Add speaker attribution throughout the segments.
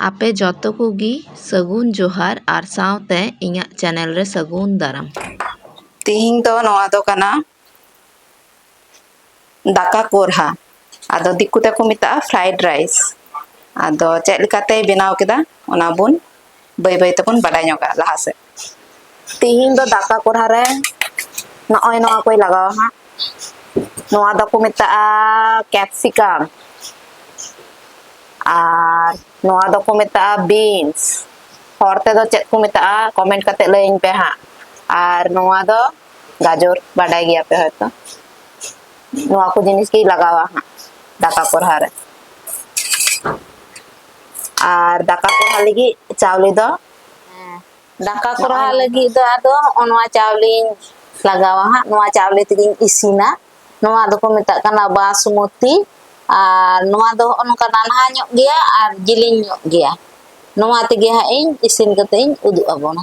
Speaker 1: ᱟᱯᱮ ᱡᱚᱛᱚ ᱠᱚᱜᱮ ᱥᱟᱹᱜᱩᱱ ᱡᱚᱦᱟᱨ ᱟᱨ ᱥᱟᱶᱛᱮ ᱤᱧᱟᱹᱜ ᱪᱮᱱᱮᱞ ᱨᱮ ᱥᱟᱹᱜᱩᱱ ᱫᱟᱨᱟᱢ ᱛᱮᱦᱮᱧ ᱫᱚ ᱱᱚᱣᱟ ᱫᱚ ᱠᱟᱱᱟ ᱫᱟᱠᱟ ᱠᱚᱨᱦᱟ ᱟᱫᱚ ᱫᱤᱠᱩ ᱛᱮᱠᱚ ᱢᱮᱛᱟᱜᱼᱟ ᱯᱷᱨᱟᱭᱤᱰ ᱨᱟᱭᱤᱥ ᱟᱫᱚ ᱪᱮᱫ ᱞᱮᱠᱟᱛᱮᱭ ᱵᱮᱱᱟᱣ ᱠᱮᱫᱟ ᱚᱱᱟ ᱵᱚᱱ ᱵᱟᱹᱭ ᱵᱟᱹᱭ ᱛᱮᱵᱚᱱ ᱵᱟᱰᱟᱭ ᱧᱚᱜᱟ ᱞᱟᱦᱟ ᱥᱮᱫ ᱛᱤᱦᱤᱧ ᱫᱚ ᱫᱟᱠᱟ ᱠᱚᱲᱦᱟ ᱨᱮ ᱱᱚᱜᱼᱚᱭ ᱱᱚᱣᱟ ᱠᱚᱭ ᱞᱟᱜᱟᱣᱟ ᱦᱟᱸᱜ ᱱᱚᱣᱟ ᱫᱚᱠᱚ ᱢᱮᱛᱟᱜᱼᱟ ᱠᱮᱯᱥᱤᱠᱟᱢ ᱟᱨ ᱱᱚᱣᱟ ᱫᱚᱠᱚ ᱢᱮᱛᱟᱜᱼᱟ ᱵᱤᱱᱥ ᱦᱚᱲ ᱛᱮᱫᱚ ᱪᱮᱫ ᱠᱚ ᱢᱮᱛᱟᱜᱼᱟ ᱠᱚᱢᱮᱱᱴ ᱠᱟᱛᱮ ᱞᱟᱹᱭᱟᱹᱧ ᱯᱮ ᱦᱟᱸᱜ ᱟᱨ ᱱᱚᱣᱟ ᱫᱚ ᱜᱟᱡᱚᱨ ᱵᱟᱰᱟᱭ ᱜᱮᱭᱟ ᱯᱮ ᱦᱚᱭᱛᱚ ᱱᱚᱣᱟ ᱠᱚ ᱡᱤᱱᱤᱥ ᱜᱮ ᱞᱟᱜᱟᱣᱟ ᱦᱟᱸᱜ ᱫᱟᱠᱟ ᱠᱚᱨᱦᱟ ᱨᱮ ᱟᱨ ᱫᱟᱠᱟ ᱠᱚᱨᱦᱟ ᱞᱟᱹᱜᱤᱫ ᱪᱟᱣᱞᱮ ᱫᱚ ᱦᱮᱸ ᱫᱟᱠᱟ ᱠᱚᱨᱦᱟ ᱞᱟᱹᱜᱤᱫ ᱫᱚ ᱟᱫᱚ ᱦᱚᱸᱜᱼᱚ ᱱᱚᱣᱟ ᱪᱟᱣᱞᱮᱧ ᱞᱟᱜᱟᱣᱟ ᱦᱟᱸᱜ ᱱᱚᱣᱟ ᱪᱟᱣᱞᱮ ᱛᱮᱜᱮᱧ ᱤᱥᱤᱱᱟ ᱱᱚᱣᱟ ᱫᱚᱠᱚ ᱢᱮᱛᱟᱜ ᱠᱟᱱᱟ ᱵᱟᱥᱢᱚᱛᱤ ᱟᱨ ᱱᱚᱣᱟ ᱫᱚ ᱦᱚᱸᱜᱼᱚ ᱱᱚᱝᱠᱟ ᱱᱟᱱᱦᱟ ᱧᱚᱜ ᱜᱮᱭᱟ ᱟᱨ ᱡᱤᱞᱤᱧ ᱧᱚᱜ ᱜᱮᱭᱟ ᱱᱚᱣᱟ ᱛᱮᱜᱮ ᱦᱟᱸᱜ ᱤᱧ ᱤᱥᱤᱱ ᱠᱟᱛᱮ ᱤᱧ ᱩᱫᱩᱜ ᱟᱵᱚᱱᱟ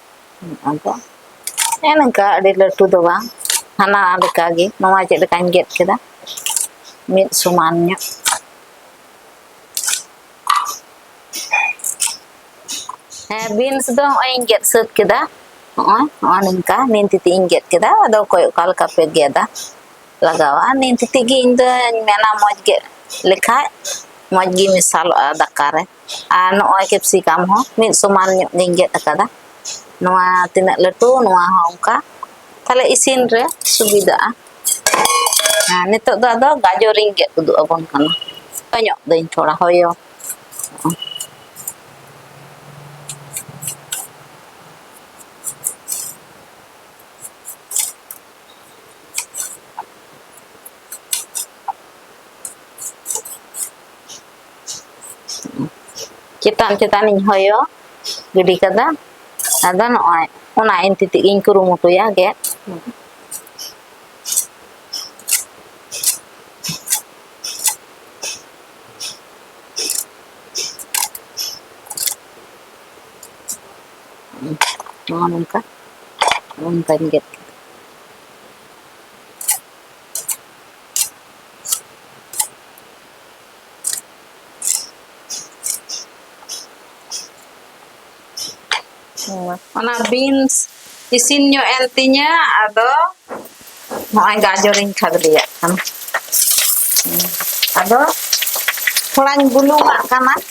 Speaker 1: ᱟᱫᱚ ᱦᱮᱸ ᱱᱚᱝᱠᱟ ᱟᱹᱰᱤ ᱞᱟᱹᱴᱩ ᱫᱚ ᱵᱟᱝ ᱦᱟᱱᱟ ᱞᱮᱠᱟᱜᱮ ᱱᱚᱣᱟ ᱪᱮᱫ ᱞᱮᱠᱟᱧ ᱜᱮᱫ ᱠᱮᱫᱟ ᱢᱤᱫ ᱥᱚᱢᱟᱱ ᱧᱚᱜ ᱦᱮᱸ ᱵᱤᱱᱥ ᱫᱚ ᱱᱚᱜᱼᱚᱭ ᱤᱧ ᱜᱮᱫ ᱥᱟᱹᱛ ᱠᱮᱫᱟ ᱱᱚᱜᱼᱚᱭ ᱱᱚᱜᱼᱚᱭ ᱱᱚᱝᱠᱟ ᱱᱤᱱ ᱛᱤᱛᱤ ᱤᱧ ᱜᱮᱫ ᱠᱮᱫᱟ ᱟᱫᱚ ᱚᱠᱚᱭ ᱚᱠᱟ ᱞᱮᱠᱟ ᱯᱮ ᱜᱮᱫᱟ ᱞᱟᱜᱟᱣᱟ ᱱᱤᱱ ᱛᱤᱛᱤ ᱜᱮ ᱤᱧ ᱫᱚᱧ ᱢᱮᱱᱟ ᱢᱚᱡᱽ ᱜᱮᱫ ᱞᱮᱠᱷᱟᱡ ᱢᱚᱡᱽ ᱜᱮ ᱢᱮᱥᱟᱞᱚᱜᱼᱟ ᱫᱟᱠᱟ ᱨᱮ ᱟᱨ ᱱᱚᱜᱼᱚᱭ ᱠᱮᱯᱥᱤᱠᱟᱢ ᱦᱚᱸ ᱢᱤᱫ ᱥᱚᱢᱟᱱ ᱧᱚᱜ ᱜᱤᱧ ᱜᱮᱫ ᱟᱠᱟᱫᱟ ᱱᱚᱣᱟ ᱛᱤᱱᱟᱹᱜ ᱞᱟᱹᱴᱩ ᱱᱚᱣᱟ ᱦᱚᱸ ᱚᱱᱠᱟ ᱛᱟᱦᱞᱮ ᱤᱥᱤᱱ ᱨᱮ ᱥᱩᱵᱤᱫᱷᱟᱜᱼᱟ ᱟᱨ ᱱᱤᱛᱚᱜ ᱫᱚ ᱟᱫᱚ ᱜᱟᱡᱚᱨᱤᱧ ᱜᱮᱫ ᱩᱫᱩᱜ ᱟᱵᱚᱱ ᱠᱟᱱᱟ ᱦᱚᱭᱚᱜ ᱫᱟᱹᱧ ᱛᱷᱚᱲᱟ ᱦᱚᱭᱚ ᱪᱮᱛᱟᱱ ᱪᱮᱛᱟᱱᱤᱧ ᱦᱚᱭᱚ ᱜᱤᱰᱤ ᱠᱟᱫᱟ ᱟᱫᱚ ᱱᱚᱜᱼᱚᱭ ᱚᱱᱟ ᱮᱱᱛᱤ ᱛᱮᱜᱮᱧ ᱠᱩᱨᱩᱢᱩᱴᱩᱭᱟ ᱜᱮᱫ ᱱᱚᱜᱼᱚ ᱱᱚᱝᱠᱟ ᱚᱱᱠᱟᱧ ᱜᱮᱫ ᱠᱮᱫᱟ ᱚᱱᱟ ᱵᱤᱱᱥ ᱤᱥᱤᱱ ᱧᱚᱜ ᱮᱱ ᱛᱤᱧᱟᱹ ᱟᱫᱚ ᱱᱚᱜᱼᱚᱭ ᱜᱟᱡᱚᱨᱤᱧ ᱠᱷᱟᱫᱽᱞᱮᱭᱟᱜ ᱠᱟᱱᱟ ᱟᱫᱚ ᱛᱷᱚᱲᱟᱧ ᱵᱩᱞᱩᱝᱟᱜ ᱠᱟᱱᱟ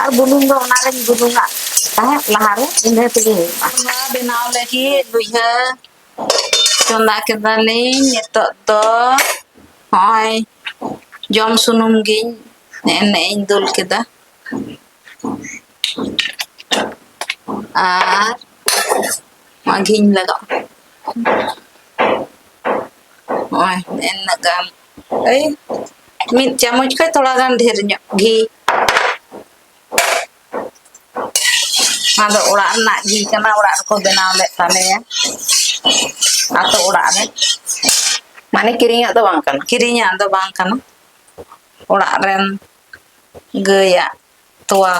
Speaker 1: ᱟᱨ ᱵᱩᱞᱩᱝ ᱫᱚ ᱚᱱᱟ ᱨᱮᱧ ᱵᱩᱞᱩᱝᱟᱜ ᱛᱟᱦᱮᱸᱫ ᱞᱟᱦᱟᱨᱮ ᱤᱱᱟᱹ ᱛᱮᱜᱮ ᱦᱩᱭᱩᱜᱼᱟ ᱚᱱᱟ ᱵᱮᱱᱟᱣ ᱞᱟᱹᱜᱤᱫ ᱞᱩᱭᱦᱟᱹ ᱪᱚᱸᱫᱟ ᱠᱮᱫᱟᱞᱤᱧ ᱱᱤᱛᱚᱜ ᱫᱚ ᱦᱚᱸᱜᱼᱚᱭ ᱡᱚᱢ ᱥᱩᱱᱩᱢ ᱜᱤᱧ ᱮᱱᱮ ᱤᱧ ᱫᱩᱞ ᱠᱮᱫᱟ ᱟᱨ ᱢᱟᱜᱷᱤᱧ ᱞᱟᱜᱟᱣ ᱱᱚᱜᱼᱚᱭ ᱤᱱᱟᱹᱜ ᱜᱟᱱ ᱮᱭ ᱢᱤᱫ ᱪᱟᱢᱚᱪ ᱠᱷᱚᱱ ᱛᱷᱚᱲᱟ ᱜᱟᱱ ᱰᱷᱮᱨ ᱧᱚᱜ ᱜᱷᱤ ᱟᱫᱚ ᱚᱲᱟᱜ ᱨᱮᱱᱟᱜ ᱜᱷᱤ ᱠᱟᱱᱟ ᱚᱲᱟᱜ ᱨᱮᱠᱚ ᱵᱮᱱᱟᱣ ᱞᱮᱫ ᱛᱟᱞᱮᱭᱟ ᱟᱛᱳ ᱚᱲᱟᱜ ᱨᱮ ᱢᱟᱱᱮ ᱠᱤᱨᱤᱧᱟᱜ ᱫᱚ ᱵᱟᱝ ᱠᱟᱱᱟ ᱠᱤᱨᱤᱧᱟᱜ ᱫᱚ ᱵᱟᱝ ᱠᱟᱱᱟ ᱚᱲᱟᱜ ᱨᱮᱱ ᱜᱟᱹᱭᱟᱜ ᱛᱚᱣᱟ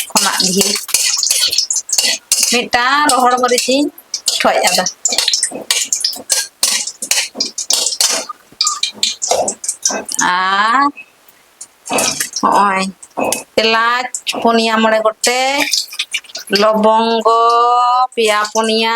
Speaker 1: ᱠᱷᱚᱱᱟᱜ ᱜᱷᱤ ᱢᱤᱫᱴᱟᱝ ᱨᱚᱦᱚᱲ ᱢᱟᱹᱨᱤᱪ ᱤᱧ ᱴᱷᱚᱡ ᱟᱫᱟ ᱟᱨ ᱦᱚᱸᱜᱼᱚᱭ ᱮᱞᱟᱪ ᱯᱩᱱᱭᱟ ᱢᱚᱬᱮ ᱜᱚᱴᱮᱡ ᱞᱚᱵᱚᱝᱜᱚ ᱯᱮᱭᱟ ᱯᱩᱱᱭᱟ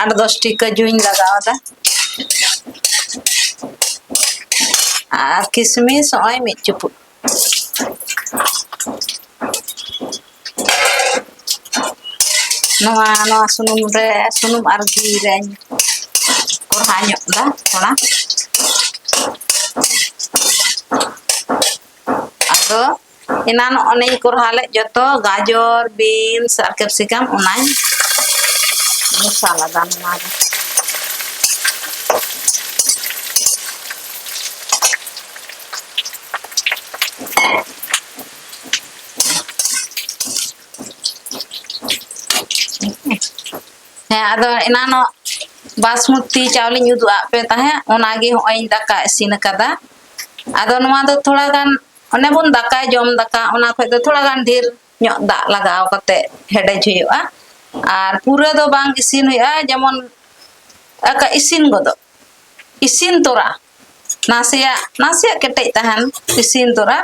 Speaker 1: ᱟᱴ ᱫᱚᱥᱴᱤ ᱠᱟᱹᱡᱩᱧ ᱞᱟᱜᱟᱣᱫᱟ ᱟᱨ ᱠᱤᱥᱢᱤᱥ ᱱᱚᱜᱼᱚᱭ ᱢᱤᱫ ᱪᱩᱯᱩᱫ ᱱᱚᱣᱟ ᱱᱚᱣᱟ ᱥᱩᱱᱩᱢ ᱨᱮ ᱥᱩᱱᱩᱢ ᱟᱨ ᱜᱷᱤ ᱨᱮᱧ ᱠᱚᱲᱦᱟ ᱧᱚᱜ ᱫᱟ ᱛᱷᱚᱲᱟ ᱟᱫᱚ ᱮᱱᱟᱱ ᱚᱱᱮᱧ ᱠᱚᱨᱦᱟ ᱞᱮᱫ ᱡᱚᱛᱚ ᱜᱟᱡᱚᱨ ᱵᱤᱱᱥ ᱟᱨ ᱠᱮᱯᱥᱤᱠᱟᱢ ᱚᱱᱟᱧ ᱢᱮᱥᱟ ᱞᱮᱫᱟ ᱱᱚᱣᱟ ᱨᱮ ᱦᱮᱸ ᱟᱫᱚ ᱮᱱᱟᱱᱚᱜ ᱵᱟᱥᱢᱚᱛᱤ ᱪᱟᱣᱞᱮᱧ ᱩᱫᱩᱜ ᱟᱫ ᱯᱮ ᱛᱟᱦᱮᱸᱫ ᱚᱱᱟᱜᱮ ᱦᱚᱸᱜᱼᱚᱭ ᱤᱧ ᱫᱟᱠᱟ ᱤᱥᱤᱱ ᱟᱠᱟᱫᱟ ᱟᱫᱚ ᱱᱚᱣᱟ ᱫᱚ ᱛᱷᱚᱲᱟ ᱜᱟᱱ ᱚᱱᱮ ᱵᱚᱱ ᱫᱟᱠᱟ ᱡᱚᱢ ᱫᱟᱠᱟ ᱚᱱᱟ ᱠᱷᱚᱡ ᱫᱚ ᱛᱷᱚᱲᱟ ᱜᱟᱱ ᱰᱷᱮᱨ ᱧᱚᱜ ᱫᱟᱜ ᱞᱟᱜᱟᱣ ᱠᱟᱛᱮ ᱦᱮᱰᱮᱡ ᱦᱩᱭᱩᱜᱼᱟ ᱟᱨ ᱯᱩᱨᱟᱹ ᱫᱚ ᱵᱟᱝ ᱤᱥᱤᱱ ᱦᱩᱭᱩᱜᱼᱟ ᱡᱮᱢᱚᱱ ᱟᱠᱟ ᱤᱥᱤᱱ ᱜᱚᱫᱚᱜ ᱤᱥᱤᱱ ᱛᱚᱨᱟ ᱱᱟᱥᱮᱭᱟᱜ ᱱᱟᱥᱮᱭᱟᱜ ᱠᱮᱴᱮᱡ ᱛᱟᱦᱮᱱ ᱤᱥᱤᱱ ᱛᱚᱨᱟ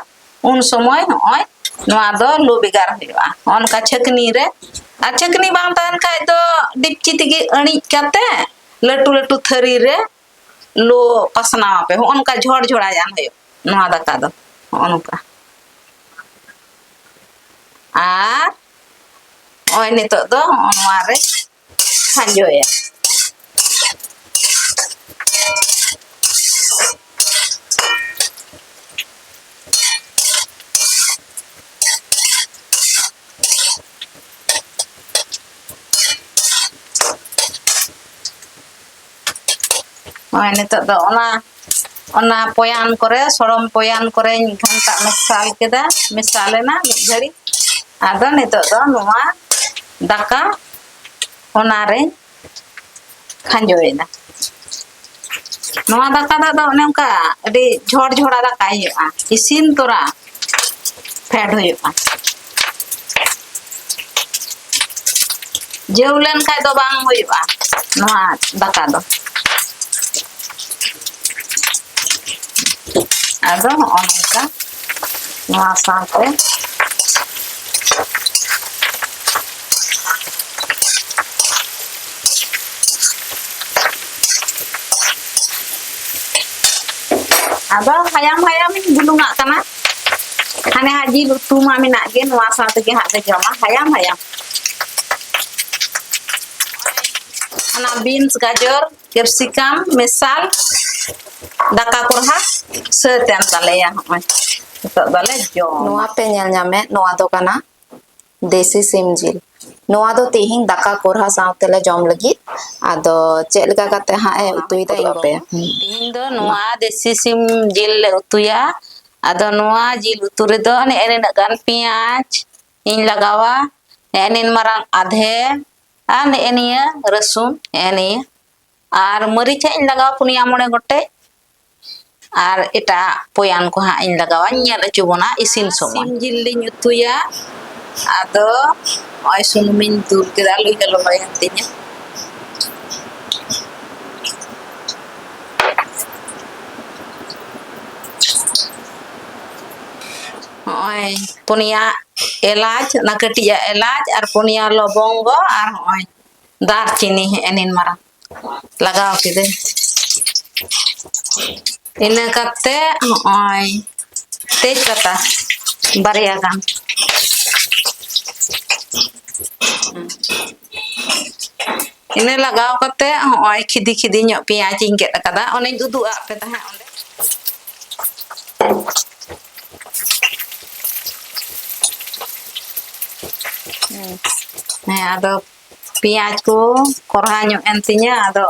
Speaker 1: ᱩᱱ ᱥᱚᱢᱚᱭ ᱱᱚᱜᱼᱚᱭ ᱱᱚᱣᱟ ᱫᱚ ᱞᱩ ᱵᱮᱜᱟᱨ ᱦᱩᱭᱩᱜᱼᱟ ᱚᱱᱠᱟ ᱪᱷᱟᱹᱠᱱᱤ ᱨᱮ ᱟᱨ ᱪᱷᱟᱹᱠᱱᱤ ᱵᱟᱝ ᱛᱟᱦᱮᱱ ᱠᱷᱟᱡ ᱫᱚ ᱰᱤᱯᱪᱤ ᱛᱮᱜᱮ ᱟᱹᱬᱤᱡ ᱠᱟᱛᱮ ᱞᱟᱹᱴᱩ ᱞᱟᱹᱴᱩ ᱛᱷᱟᱹᱨᱤ ᱨᱮ ᱞᱩ ᱯᱟᱥᱱᱟᱣ ᱟᱯᱮ ᱦᱚᱸᱜᱼᱚ ᱱᱚᱝᱠᱟ ᱡᱷᱚᱲ ᱡᱷᱚᱲᱟ ᱡᱟᱝ ᱦᱩᱭᱩᱜ ᱱᱚᱣᱟ ᱫᱟᱠᱟ ᱫᱚ ᱦᱚᱸᱜᱼᱚ ᱱᱚᱝᱠᱟ ᱟᱨ ᱱᱚᱜᱼᱚᱭ ᱱᱤᱛᱚᱜ ᱫᱚ ᱦᱚᱸᱜᱼᱚ ᱱᱚᱣᱟ ᱨᱮ ᱠᱷᱟᱸᱡᱚᱭᱟ ᱱᱚᱜᱼᱚᱭ ᱱᱤᱛᱚᱜ ᱫᱚ ᱚᱱᱟ ᱚᱱᱟ ᱯᱚᱭᱟᱱ ᱠᱚᱨᱮ ᱥᱚᱲᱚᱢ ᱯᱚᱭᱟᱱ ᱠᱚᱨᱮᱧ ᱜᱷᱟᱱᱴᱟ ᱢᱮᱥᱟᱞ ᱠᱮᱫᱟ ᱢᱮᱥᱟ ᱞᱮᱱᱟ ᱢᱤᱫ ᱜᱷᱟᱹᱲᱤᱡ ᱟᱫᱚ ᱱᱤᱛᱚᱜ ᱫᱚ ᱱᱚᱣᱟ ᱫᱟᱠᱟ ᱚᱱᱟᱨᱮᱧ ᱠᱷᱟᱸᱡᱚᱭᱮᱫᱟ ᱱᱚᱣᱟ ᱫᱟᱠᱟ ᱫᱚ ᱟᱫᱚ ᱚᱱᱮ ᱚᱱᱠᱟ ᱟᱹᱰᱤ ᱡᱷᱚᱲ ᱡᱷᱚᱲᱟ ᱫᱟᱠᱟᱭ ᱦᱩᱭᱩᱜᱼᱟ ᱤᱥᱤᱱ ᱛᱚᱨᱟ ᱯᱷᱮᱰ ᱦᱩᱭᱩᱜᱼᱟ ᱡᱟᱹᱣ ᱞᱮᱱ ᱠᱷᱟᱡ ᱫᱚ ᱵᱟᱝ ᱦᱩᱭᱩᱜᱼᱟ ᱱᱚᱣᱟ ᱫᱟᱠᱟ ᱫᱚ ᱟᱫᱚ ᱱᱚᱜᱼᱚ ᱱᱚᱝᱠᱟ ᱱᱚᱣᱟ ᱥᱟᱶᱛᱮ ᱟᱫᱚ ᱦᱟᱭᱟᱢ ᱦᱟᱭᱟᱢᱤᱧ ᱵᱩᱞᱩᱝᱟᱜ ᱠᱟᱱᱟ ᱦᱟᱱᱮ ᱦᱟᱸᱜ ᱡᱤᱞ ᱩᱛᱩ ᱢᱟ ᱢᱮᱱᱟᱜ ᱜᱮ ᱱᱚᱣᱟ ᱥᱟᱶ ᱛᱮᱜᱮ ᱦᱟᱸᱜ ᱞᱮ ᱡᱚᱢᱟ ᱦᱟᱭᱟᱢ ᱦᱟᱭᱟᱢ ᱚᱱᱟ ᱵᱤᱱᱥ ᱜᱟᱡᱚᱨ ᱠᱮᱯᱥᱤᱠᱟᱢ ᱢᱮᱥᱟᱞ ᱫᱟᱠᱟ ᱠᱚ ᱦᱟᱸᱜ ᱥᱟᱹᱛ ᱮᱱ ᱛᱟᱞᱮᱭᱟ ᱦᱚᱸᱜᱼᱚᱭ ᱱᱤᱛᱚᱜ ᱫᱚᱞᱮ ᱡᱚᱢ ᱱᱚᱣᱟ ᱯᱮ ᱧᱮᱞ ᱧᱟᱢᱮᱫ ᱱᱚᱣᱟ ᱫᱚ ᱠᱟᱱᱟ ᱫᱮᱥᱤ ᱥᱤᱢ ᱡᱤᱞ ᱱᱚᱣᱟ ᱫᱚ ᱛᱮᱦᱮᱧ ᱫᱟᱠᱟ ᱠᱚᱨᱦᱟ ᱥᱟᱶᱛᱮ ᱞᱮ ᱡᱚᱢ ᱞᱟᱹᱜᱤᱫ ᱟᱫᱚ ᱪᱮᱫ ᱞᱮᱠᱟ ᱠᱟᱛᱮ ᱦᱟᱸᱜ ᱮ ᱩᱛᱩᱭ ᱫᱟ ᱤᱧ ᱯᱮ ᱛᱮᱦᱮᱧ ᱫᱚ ᱱᱚᱣᱟ ᱫᱮᱥᱤ ᱥᱤᱢ ᱡᱤᱞ ᱞᱮ ᱩᱛᱩᱭᱟ ᱟᱫᱚ ᱱᱚᱣᱟ ᱡᱤᱞ ᱩᱛᱩ ᱨᱮᱫᱚ ᱱᱮᱜᱼᱮ ᱱᱤᱱᱟᱹᱜ ᱜᱟᱱ ᱯᱮᱸᱭᱟᱡᱽ ᱤᱧ ᱞᱟᱜᱟᱣᱟ ᱱᱮᱜᱼᱮ ᱱᱤᱱ ᱢᱟᱨᱟᱝ ᱟᱫᱷᱮ ᱟᱨ ᱱᱮᱜᱼᱮ ᱱᱤᱭᱟᱹ ᱨᱟᱹᱥᱩᱱ ᱱᱮᱜᱼᱮ ᱱᱤᱭᱟᱹ ᱟᱨ ᱢᱟᱹᱨᱤᱪ ᱦᱟᱸᱜ ᱤᱧ ᱞᱟᱜᱟᱣᱟ ᱯᱩᱱᱭᱟ ᱢᱚᱬᱮ ᱜᱚᱴᱮᱡ ᱟᱨ ᱮᱴᱟᱜ ᱯᱚᱭᱟᱱ ᱠᱚ ᱦᱟᱸᱜ ᱤᱧ ᱞᱟᱜᱟᱣᱟ ᱧᱮᱞ ᱦᱚᱪᱚ ᱵᱚᱱᱟ ᱤᱥᱤᱱ ᱥᱚᱢᱚᱭ ᱥᱤᱢ ᱡᱤᱞ ᱞᱤᱧ ᱩᱛᱩᱭᱟ ᱟᱫᱚ ᱱᱚᱜᱼᱚᱭ ᱥᱩᱱᱩᱢᱤᱧ ᱫᱩᱞ ᱠᱮᱫᱟ ᱞᱩᱭ ᱦᱚᱸ ᱞᱚᱞᱚᱭᱮᱱ ᱛᱤᱧᱟᱹ ᱱᱚᱜᱼᱚᱭ ᱯᱩᱱᱭᱟ ᱮᱞᱟᱪ ᱚᱱᱟ ᱠᱟᱹᱴᱤᱡᱟᱜ ᱮᱞᱟᱪ ᱟᱨ ᱯᱩᱱᱭᱟ ᱞᱚᱵᱚᱝᱜᱚ ᱟᱨ ᱱᱚᱜᱼᱚᱭ ᱫᱟᱨᱪᱤᱱᱤ ᱦᱮᱸ ᱱᱤᱱ ᱢᱟᱨᱟᱝ ᱞᱟᱜᱟᱣ ᱠᱤᱫᱟᱹᱧ ᱤᱱᱟᱹ ᱠᱟᱛᱮ ᱦᱚᱸᱜᱼᱚᱭ ᱛᱮᱡᱽ ᱯᱟᱛᱟ ᱵᱟᱨᱭᱟ ᱜᱟᱱ ᱤᱱᱟᱹ ᱞᱟᱜᱟᱣ ᱠᱟᱛᱮ ᱦᱚᱸᱜᱼᱚᱭ ᱠᱷᱤᱫᱤ ᱠᱷᱤᱫᱤ ᱧᱚᱜ ᱯᱮᱸᱭᱟᱡᱽ ᱤᱧ ᱜᱮᱫ ᱟᱠᱟᱫᱟ ᱚᱱᱮᱧ ᱩᱫᱩᱜ ᱟᱫ ᱯᱮ ᱛᱟᱦᱮᱸᱫ ᱚᱸᱰᱮ ᱦᱮᱸ ᱟᱫᱚ ᱯᱮᱸᱭᱟᱡᱽ ᱠᱚ ᱠᱚᱨᱦᱟ ᱧᱚᱜ ᱮᱱ ᱛᱤᱧᱟᱹ ᱟᱫᱚ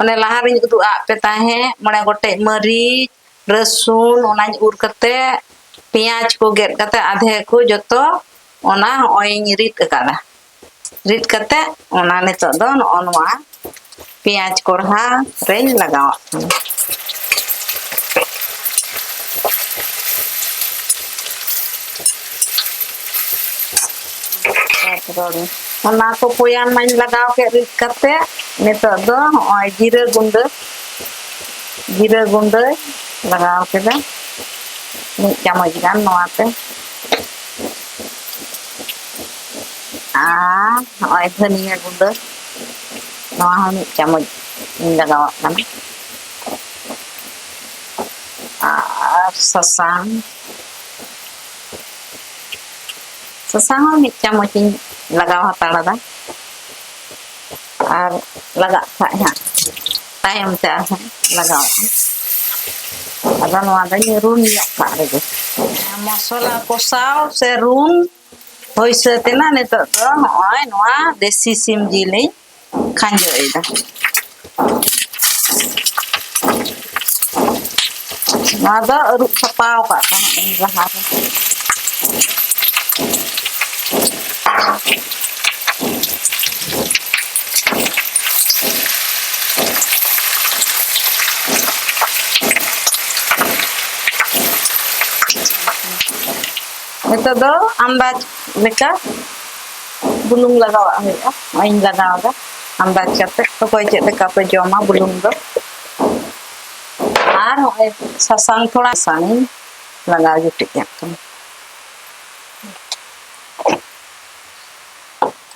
Speaker 1: ᱚᱱᱮ ᱞᱟᱦᱟ ᱨᱤᱧ ᱩᱫᱩᱜ ᱟᱫ ᱯᱮ ᱛᱟᱦᱮᱸᱫ ᱢᱚᱬᱮ ᱜᱚᱴᱮᱡ ᱢᱟᱹᱨᱤᱪ ᱨᱟᱹᱥᱩᱱ ᱚᱱᱟᱧ ᱩᱨ ᱠᱟᱛᱮ ᱯᱮᱸᱭᱟᱡᱽ ᱠᱚ ᱜᱮᱫ ᱠᱟᱛᱮ ᱟᱫᱷᱮ ᱠᱚ ᱡᱚᱛᱚ ᱚᱱᱟ ᱦᱚᱸᱜᱼᱚᱭᱤᱧ ᱨᱤᱫ ᱟᱠᱟᱫᱟ ᱨᱤᱫ ᱠᱟᱛᱮ ᱚᱱᱟ ᱱᱤᱛᱚᱜ ᱫᱚ ᱱᱚᱜᱼᱚ ᱱᱚᱣᱟ ᱯᱮᱸᱭᱟᱡᱽ ᱠᱚᱲᱦᱟ ᱨᱮᱧ ᱞᱟᱜᱟᱣᱟᱜ ᱠᱟᱱᱟ ᱛᱟᱨᱯᱚᱨ ᱚᱱᱟ ᱠᱚ ᱯᱚᱭᱟᱱ ᱢᱟᱧ ᱞᱟᱜᱟᱣ ᱠᱮᱫ ᱨᱤᱫ ᱠᱟᱛᱮ ᱱᱤᱛᱚᱜ ᱫᱚ ᱦᱚᱸᱜᱼᱚᱭ ᱡᱤᱨᱟᱹ ᱜᱩᱸᱰᱟᱹ ᱡᱤᱨᱟᱹ ᱜᱩᱸᱰᱟᱹ ᱞᱟᱜᱟᱣ ᱠᱮᱫᱟ ᱢᱤᱫ ᱪᱟᱢᱚᱪ ᱜᱟᱱ ᱱᱚᱣᱟᱛᱮ ᱟᱨ ᱱᱚᱜᱼᱚᱭ ᱫᱷᱟᱹᱱᱤᱭᱟᱹ ᱜᱩᱸᱰᱟᱹ ᱱᱚᱣᱟ ᱦᱚᱸ ᱢᱤᱫ ᱪᱟᱢᱚᱪ ᱤᱧ ᱞᱟᱜᱟᱣᱟᱜ ᱠᱟᱱᱟ ᱟᱨ ᱥᱟᱥᱟᱝ ᱥᱟᱥᱟᱝ ᱦᱚᱸ ᱢᱤᱫ ᱪᱟᱢᱚᱪ ᱤᱧ ᱞᱟᱜᱟᱣ ᱦᱟᱛᱟᱲᱟᱫᱟ ᱟᱨ ᱞᱟᱜᱟᱜ ᱠᱷᱟᱡ ᱦᱟᱸᱜ ᱛᱟᱭᱚᱢ ᱛᱮ ᱟᱨᱦᱚᱸ ᱞᱟᱜᱟᱣᱟᱜᱼᱟ ᱟᱫᱚ ᱱᱚᱣᱟ ᱫᱚᱧ ᱨᱩᱱ ᱧᱚᱜ ᱠᱟᱜ ᱨᱮᱜᱮ ᱢᱚᱥᱞᱟ ᱠᱚᱥᱟᱣ ᱥᱮ ᱨᱩᱱ ᱦᱳᱭ ᱥᱟᱹᱛ ᱮᱱᱟ ᱱᱤᱛᱚᱜ ᱫᱚ ᱦᱚᱸᱜᱼᱚᱭ ᱱᱚᱣᱟ ᱫᱮᱥᱤ ᱥᱤᱢ ᱡᱤᱞᱤᱧ ᱠᱷᱟᱸᱡᱚᱭᱮᱫᱟ ᱱᱚᱣᱟ ᱫᱚ ᱟᱹᱨᱩᱵ ᱥᱟᱯᱟᱣ ᱠᱟᱜ ᱛᱟᱦᱮᱸᱫ ᱤᱧ ᱞᱟᱦᱟᱨᱮ ᱱᱤᱛᱚᱜ ᱫᱚ ᱟᱱᱫᱟᱡᱽ ᱞᱮᱠᱟ ᱵᱩᱞᱩᱝ ᱞᱟᱜᱟᱣᱟᱜ ᱦᱩᱭᱩᱜᱼᱟ ᱱᱚᱜᱼᱚᱭᱤᱧ ᱞᱟᱜᱟᱣᱫᱟ ᱟᱱᱫᱟᱡᱽ ᱠᱟᱛᱮ ᱚᱠᱚᱭ ᱪᱮᱫ ᱞᱮᱠᱟ ᱯᱮ ᱡᱚᱢᱟ ᱵᱩᱞᱩᱝ ᱫᱚ ᱟᱨ ᱱᱚᱜᱼᱚᱭ ᱥᱟᱥᱟᱝ ᱛᱷᱚᱲᱟ ᱥᱟᱥᱟᱝᱤᱧ ᱞᱟᱜᱟᱣ ᱡᱩᱴᱤᱡᱟᱜ ᱠᱟᱱᱟ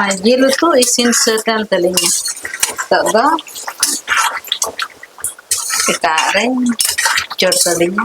Speaker 1: ᱟᱨ ᱡᱤᱞ ᱩᱛᱩ ᱤᱥᱤᱱ ᱥᱟᱹᱛ ᱮᱱ ᱛᱟᱹᱞᱤᱧᱟ ᱱᱤᱛᱚᱜ ᱫᱚ ᱮᱴᱟᱜ ᱨᱮᱧ ᱪᱚᱴ ᱟᱹᱞᱤᱧᱟ